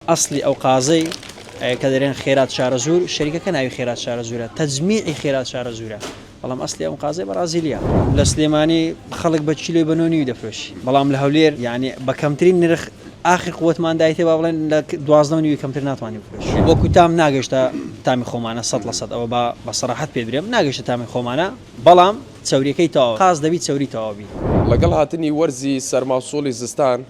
ئەسڵی ئەو قازەی کە دەرێن خێرات شارەزوور شەریکەکە ناوی خێرات شارەزوورە تەجمیعی خێرات شارەزوورە بەڵام ئەسڵی ئەم قازەی بەڕازیلیە لە سلێمانی خەڵک بە کیلۆی بە نۆ نیوی دەفرۆشی بەڵام لە هەولێر یعنی بە کەمترین نرخ ئاخر قوتمان دایتێ با بڵێن لە دوازدە و نیوی کەمتر ناتوانانی بفرۆش وەکو تام ناگەشتە تامی خۆمانە سەد لە سەد ئەوە با بە سەراحەت پێ برێم ناگەشتە تامی خۆمانە بەڵام چەوریەکەی تەواوە قاز دەبی چەوری تەواو بی. لەگەڵ هاتنی وەرزی سەرما و سوڵی زستان،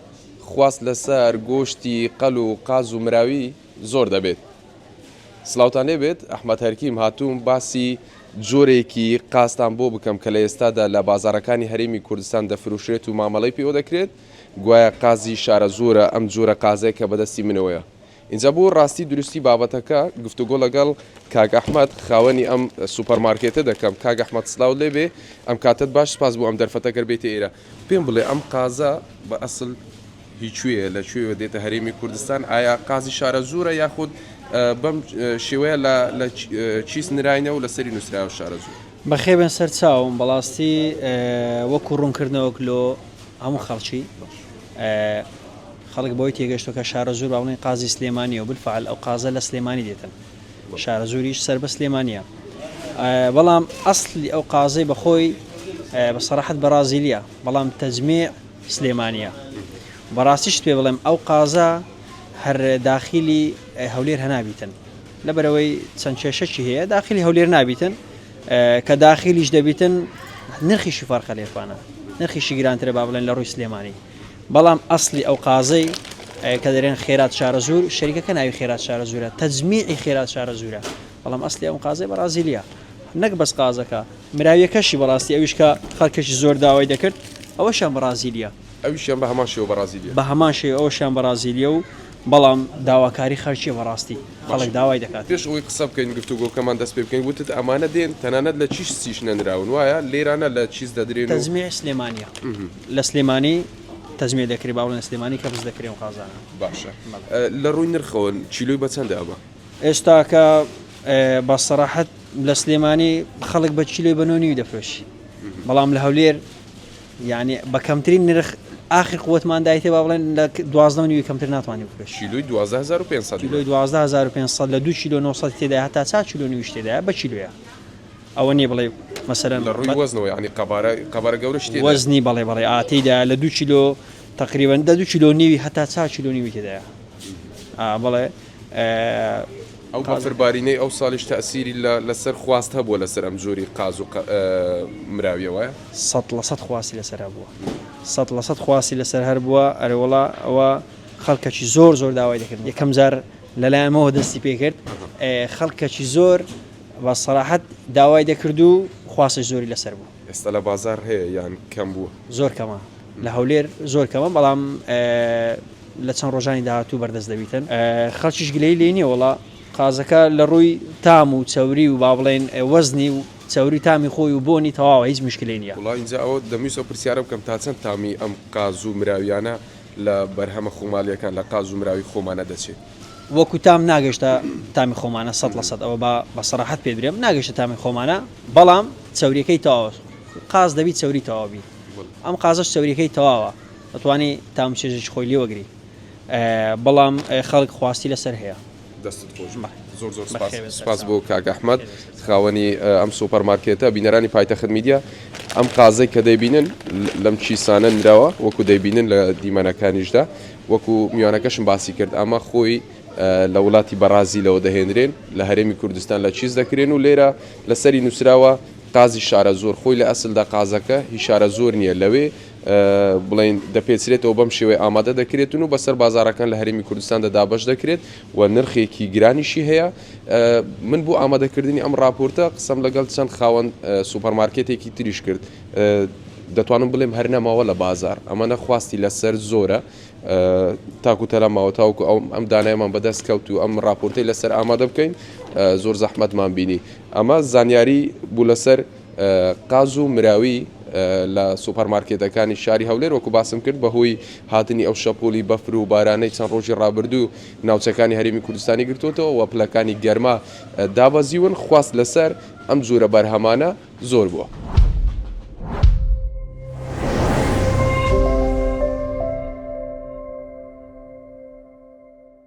خواست لەسەر گۆشتی قەل و قاز و مراوی زۆر دەبێت. سلاوتان لێ بێت ئەحمەد هەرکیم هاتووم باسی جۆرێکی قازتان بۆ بکەم کە لە ئێستادا لە بازاڕەکانی هەرێمی کوردستان دەفروشرێت و مامەڵەی پێوە دەکرێت گوایە قازی شارەزوورە ئەم جۆرە قازەی کە بەدەستی منەوەیە ئینجا بۆ ڕاستی دروستی بابەتەکە گفتوگۆ لەگەڵ کاک ئەحمەد خاوەنی ئەم سوپەر مارکێتە دەکەم کاک ئەحمەد سلاوت لێ بێ ئەم کاتەت باش سپاس بۆ ئەم دەرفەتە گەر بێیتە ئێرە پێم بڵێ ئەم قازە بە ئەسل هی کوێیە لە کوێوە دێتە هەرێمی کوردستان ئایا قازی شارەزوورە یاخود بەم شێوەیە لە لە چیس نراینەوە لەسەری نووسراوە شارەزوور بەخێبێن سەر چاوم بەڵاستی وەکو ڕوونکردنەوەک لۆ هەموو خەڵکی خەڵک بەوەی تێگەشتووە کە شارەزوور با بڵێین قازی سلێمانییە و بالفعل ئەو قازە لە سلێمانی دێتن، شارەزووریش سەر بە سلێمانییە. بەڵام ئەسڵی ئەو قازەی بە خۆی بە سەراحەت بەرازیلییە، بەڵام تەجمێع سلێمانییە. بەڕاستیشت پێ بڵێم ئەو قازە هەر داخیلی هەولێر هەنابیتن. لەبەرەوەی چەند کێشەکی هەیە داخیلی هەولێر نابیتن کە داخیلیش دەبیتن نرخیشی فەرقە لێفانە نرخیشی گرانترە با بڵێن لە ڕووی سلێمانی بەڵام ئەسڵی ئەو قازەی کە دەرێن خێرات شارەزوور شەریکەکە ناوی خێرات شارەزوورە تەجمیعی خێرات شارەزوورە بەڵام ئەسڵی ئەم قازەی بەڕازیلیە نەک بەس قازەکە مراویەکەشی بەڕاستی ئەویش کە خەڵکەشی زۆر داوای دەکرد ئەوەشیان بەڕازیلیە ئەوشیان بە هەمان شێوە بەڕازیلیە بە هەمان شێوە ئەوشیان بەڕازیلیە و بەڵام داواکاری خەرچیە بەڕاستی خەڵک داوای دەکات پێش ئەوەی قسە بکەین گفتوگۆکەمان دەست پێ بکەین وتت ئەمانە دێن تەنانەت لە چیشتیش نەنراون وایە لێرانە لە چیس دەدرێن و تەجمیع سلێمانیە لە سلێمانی تەجمیع دەکرێ با بڵێن سلێمانی کەبس دەکرێ و قازانە باشە لە ڕووی نرخەوە چیلوی بەچەندە ئەمە ئێستاکە بە سەراحەت لە سلێمانی خەڵک بە چیلوی بە نۆنیوی دەفرۆشی بەڵام لە هەولێر یعنی بە کەمترین نرخ ئاخی قوتمان دایتێ با بڵێن لە دوازدە نیوی کەمتر ناتوانانی بکرێت شیلوی 2500 لە دو کیلو 900 تێدا هەتا چا چلو نیویش تێدا بە چیلوە ئەوە نیە بڵێ مەسەلەن لە ڕووی وەزنەوە یانی قەبارە قەبارە گەورەش تێدایە؟ وەزنی بەڵێ بەڵێ ئا تێدایە لە دوو کیلۆ تقریبا دە دوو کیلۆ نیوی هەتا چا کیلۆ نیوی تێدایە ئا بەڵێ ئەو بەفربارینەی ئەو ساڵیش تەسیری لەسەر خواست هەبووە لەسەر ئەم جۆری قاز و مراویەوە سە لە سە خواستی لەسەر بووە سە لە سە خواستی لەسەر هەر بووە ئەرەوەڵا ئەوە خەڵکەکی زۆر زۆر داوای دەکرد یەکەم جار لەلایەنەوە دەستی پێکرد خەڵکەکی زۆر بە سەراحەت داوای دەکرد و خواستش زۆری لەسەر بوو. ئێستا لە بازاڕ هەیە یان کەم بووە؟ زۆر کەمە لە هەولێر زۆر کەمە بەڵام لە چەند ڕۆژانی داهاتوو بەردەست دەبیتن خەڵکیش گلەیی لێی نییە وەڵا قازەکە لە ڕووی تام و چەوری و با بڵێن وەزنی و چەوری و تامی خۆی و بۆنی تەواوە هیچ موشکیلەی نییە. وەڵا ئینجا ئەوە دەمویست ئەو پرسیارە بکەم تا چەند تامی ئەم قاز و مراویانە لە بەرهەمە خۆماڵییەکان لە قاز و مراوی خۆمانە دەچێ؟ وەکو تام ناگەشتە تامی خۆمانە سەد لە سەد ئەوە با بە سەراحەت پێ برێم ناگەشتە تامی خۆمانە بەڵام چوریەکەی تەواوە قاز دەبی چوری تەواوبی ئەم قازش چوریەکەی تەواوە دەتوانی تام چێژێکی خۆی لێ وەگری بەڵام خەڵک خواستی لەسەر هەیە دەستت خۆش زۆر زۆر سپاس بۆ کاک ئەحمد خاوەنی ئەم سوپەرمارکێتە بینەرانی پایتەخت میدیا ئەم قازەی کە دەیبینن لەم کیسانە نراوە وەکو دەیبینن لە دیمەنەکانیشدا وەکو میوانەکەشم باسی کرد ئەمە خۆی لە وڵاتی بەڕازیلەوە دەهێنرێن لە هەرێمی کوردستان لە چیز دەکرێن و لێرە لەسەری نووسراوە قازی شارە زۆر خۆی لە ئەسلدا قازەکە هی شارە زۆر نییە لەوێ بڵین دەپێچرێتەوە بەم شێوەی ئامادە دەکرێتن و بەسەر بازارەکان لە هەرمی کوردستان دەدابش دەکرێت و نرخێکی گرانیشی هەیە من بۆ ئامادەکردنی ئەم راپۆرتە قسم لەگەڵ چەند خاوەن سوپەرمارکێتێکی تریش کرد دەتوانم بڵێم هەر نەماوە لە بازار ئەمەە خواستی لەسەر زۆرە تاکو تەلا ماوە تاوکو ئەو ئەم دانایمان بەدەست کەوت و ئەم راپۆرتی لەسەر ئامادە بکەین زۆر زەحمەتمان بینی ئەمە زانیاری بوو لەسەر قاز و مراوی لە سوپەرمارکێتەکانی شاری هەولێر وەکو باسم کرد بەهۆی هاتنی ئەو شەپۆلی بەفر و بارانەی چەند ڕۆژی ڕابردوو ناوچەکانی هەرمی کوردستانی گرتوتەوە و پلەکانی گەرما دابەزیون خواست لەسەر ئەم جۆرە بەرهەمانە زۆر بووە.